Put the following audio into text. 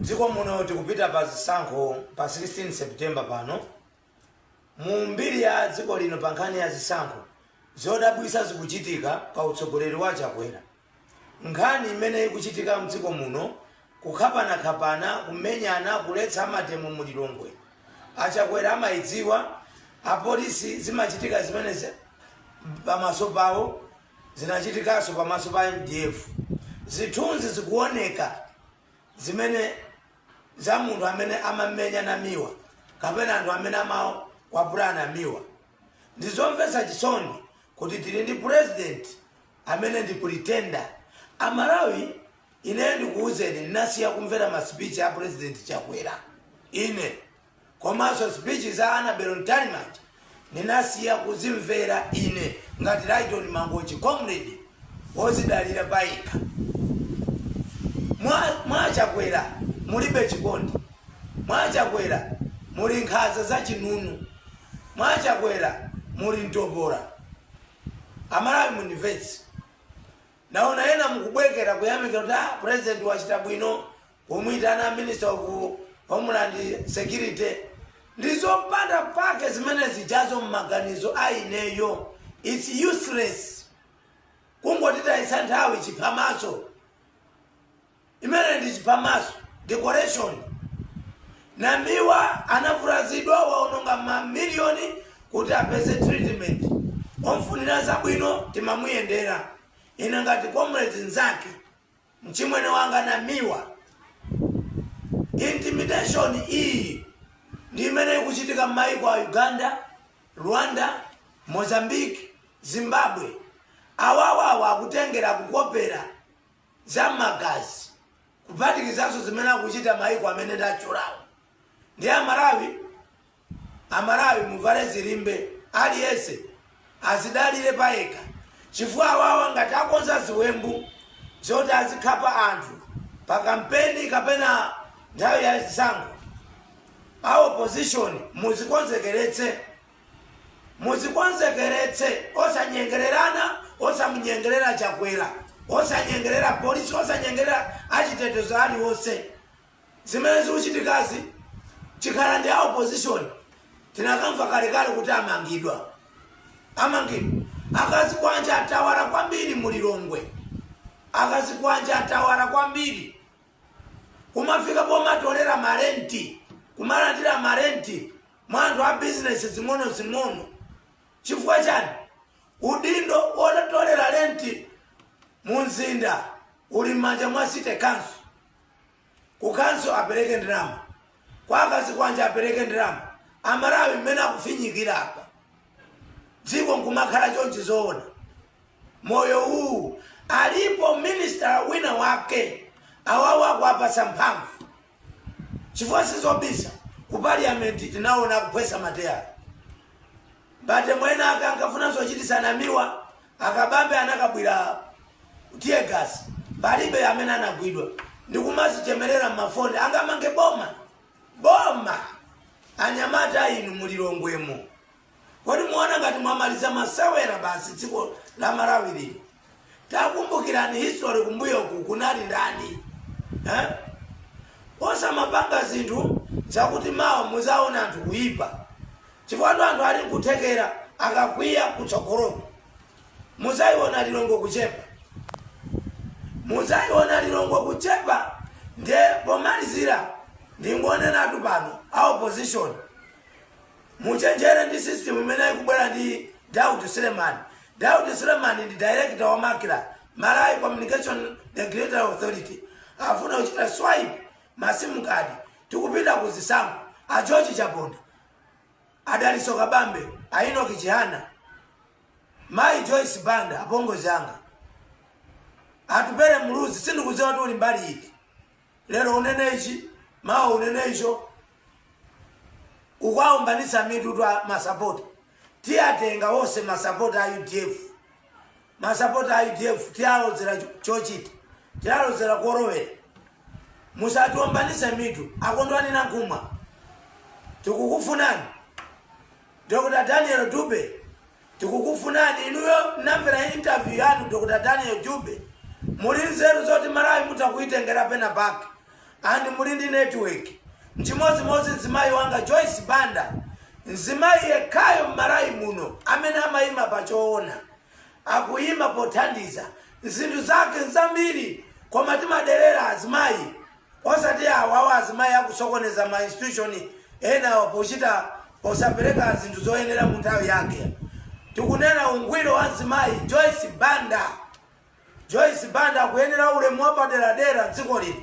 Mdziko muno tikupita pa zisankho pa 16 September pano. Mu mbiri ya dziko lino pa nkhani ya zisankho, zodabwitsa zikuchitika pa utsogoleri wa a Chakwera. Nkhani imene ikuchitika mdziko muno, kukhapanakhapana, kumenyana, kuletsa amademo mu Lilongwe, a Chakwera amayidziwa, apolisi zimachitika zimenezi pamaso pawo. zinachitikanso pamaso pa mdf. Zithunzi zikuoneka zimene za munthu amene amamenya Namiwa kapena anthu amene amakwapula Namiwa. Ndi zomvetsa chisoni kuti tili ndi president amene ndi pretender. A Malawi ineyo ndikuuzeni ndinasiya kumvera ma speech a president Chakwera ine. komanso speech za Anabel Mtalimanja ndinasiya kuzimvera ine ngati Lyton Mangochi comrade wozidalira payekha. Mwa Chakwera mulibe chikondi. Mwa Chakwera muli nkhanza za chinunu. Mwa Chakwera muli mtopola. Amalawi mundimvetse. Ndaona ena mukubwekera kuyamikira kuti aah president wachita bwino Kumuitana minister of homeland security ndi zopanda pake zimene zijazo mmaganizo a ineyo its useless kungotitayitsa nthawi chiphamaso imene ndi chiphamaso decoration namiwa anavulazidwa waononga mamiliyoni kuti apeze treatment omfunira zabwino timamuyendera ine ngati comrades nzake Mchimwene wanga Namiwa, intimidation iyi ndi imene ikuchitika mmaiko a Uganda, Rwanda, Mozambique, Zimbabwe. Awawa akutengera, kukopera za mmagazi kuphatikizanso zimene akuchita maiko amene ndatchulawo. Ndiye a Malawi Amalawi muvale zilimbe aliyense azidalire payekha chifukwa awawa ngati akonza ziwembu zoti azikhapa anthu pa kampeni kapena nthawi ya zisankho a opposition muzikonzekeretse muzikonzekeretse osanyengererana osamunyengerera chakwera osanyengerera polisi osanyengerera achitetezo aliwonse. Zimene zikuchitikazi chikhala ndi a opposition tinakamva kalekale kuti amangidwa. Amangidwa. Akazikwanja atawala kwambiri mu Lilongwe. Akazikwanja atawala kwambiri. Kumafika pomatolera ma rent, kumalandira ma rent mwa anthu a business zing'ono zing'ono. Chifukwa chani? Udindo wotolera rent mu mzinda uli m'manja mwa city council. kukanso apereke ndalama kwa akazi kwanja apereke ndalama amalawi mmene akufinyikira apa dziko nkumakhala chonchi zoona moyo uwu alipo minister wina wake awawa akuwapatsa mphamvu chifukwa sizobisa ku parliament tinaona akuphwesa mateyala bate mwene ake ankafuna zochitisa namiwa Akabambe anakabwira tear gas palibe amene anagwidwa ndikumazichemerera mmafoni angamange boma boma anyamata inu mu Lilongwemo kodi muona ngati mwamaliza masewera basi dziko la Malawi lino takumbukirani history kumbuyoku kunali ndani eh? osamapanga zinthu zakuti mawa muzaona anthu kuyipa Chifukwatu anthu ali nkuthekera akakwiya kutsogoloku mudzaiona Lilongwe kuchepa. Mudzaiona Lilongwe kuchepa nde pomalizira ndingonenatu pano a opposition muchenjere ndi system imene ikubwera ndi Daud Suleman. Daud Suleman ndi director wa Macra, Malawi Communication Regulatory Authority. Afuna kuchita swipe masimu kadi tikupita ku zisankho a George Chaponda a dalitso kabambe a inoki chihana mayi joyce banda apongozi anga atupele muluzi sindikudziwa kuti uli mbali iti lero unene ichi mawa unene icho ukuwaombanitsa mitu twa masapota tiyatenga wonse masapota a udf Masapota a udf tialozera chochita tialozera kolowera musatiombanitse mitu a Kondwani Nankhumwa tikukufunani Dr Daniel Dube tikukufunani inuyo namvera interview yanu Dr Daniel Dube muli nzeru zoti Malawi mutha kuitengera pena pake and muli ndi network nchimodzimodzi mzimayi wanga Joyce Banda mzimayi yekhayo m'Malawi muno amene amaima pa choona akuyima pothandiza zinthu zake nzambiri koma timadelera azimayi osati awawa azimayi akusokoneza ma institution enawa pochita posapereka zinthu zoyenera mu nthawi yake tikunena ungwiro wa mzimayi joyce banda joyce banda akuyenera ulemu wapaderadera mdziko lino